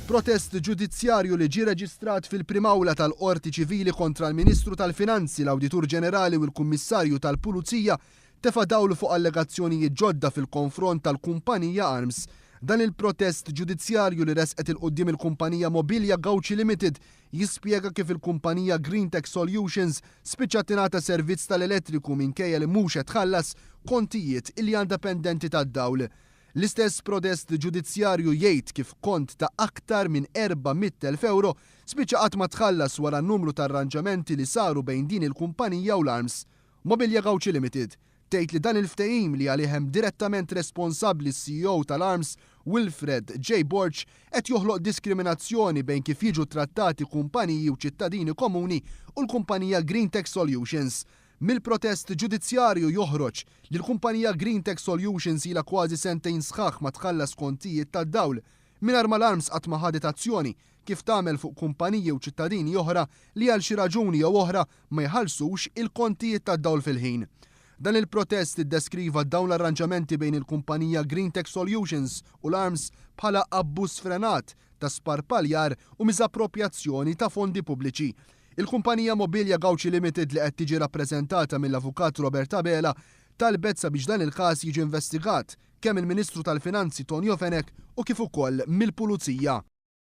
Protest ġudizzjarju li ġie reġistrat fil-Prim'Awla tal-Qorti Ċivili kontra l-Ministru tal-Finanzi, l-Awditur Ġenerali u l-Kummissarju tal-Pulizija tefa' dawl fuq allegazzjonijiet ġodda fil-konfront tal-kumpanija Arms. Dan il-protest ġudizzjarju li resqet 'il quddiem il-kumpanija Mobilia Gauci Limited jispjega kif il-kumpanija Greentech Solutions spiċċat tingħata servizz tal-elettriku minkejja li mhux qed tħallas kontijiet li għandha pendenti tad-dawl. L-istess prodest ġudizzjarju jgħid kif kont ta' aktar minn 400,000 ewro spiċċa qatt ma tħallas wara numru ta' arranġamenti li saru bejn din il-kumpanija u l-Arms. Mobilja Gauci Limited tgħid li dan il-ftehim li għalih hemm direttament responsabbli s-CEO tal-Arms, Wilfred J. Borg, qed joħloq diskriminazzjoni bejn kif jiġu ttrattati kumpaniji u ċittadini komuni u l-kumpanija Green Tech Solutions Mill-protest ġudizzjarju joħroġ li l-kumpanija Greentech Solutions ilha kważi sentejn sħaħ ma tħallas kontijiet tad-dawl, mingħajr ma l-Arms qatt ma ħadet azzjoni, kif tagħmel fuq kumpaniji u ċittadini oħra li għal xi raġuni jew oħra ma jħallsux il-kontijiet tad-dawl fil-ħin. Dan il-protest iddeskriva dawn l-arranġamenti bejn il-kumpanija Greentech Solutions u l-Arms bħala abbuż sfrenat ta' sparpaljar u miżapproprjazzjoni ta' fondi pubbliċi, Il-kumpanija Mobilia Gauci Limited li qed tiġi rappreżentata mill-Avukat Robert Abela talbet sabiex dan il-każ jiġi investigat kemm mill-Ministru tal-Finanzi Tonio Fenech u kif ukoll mill-Pulizija.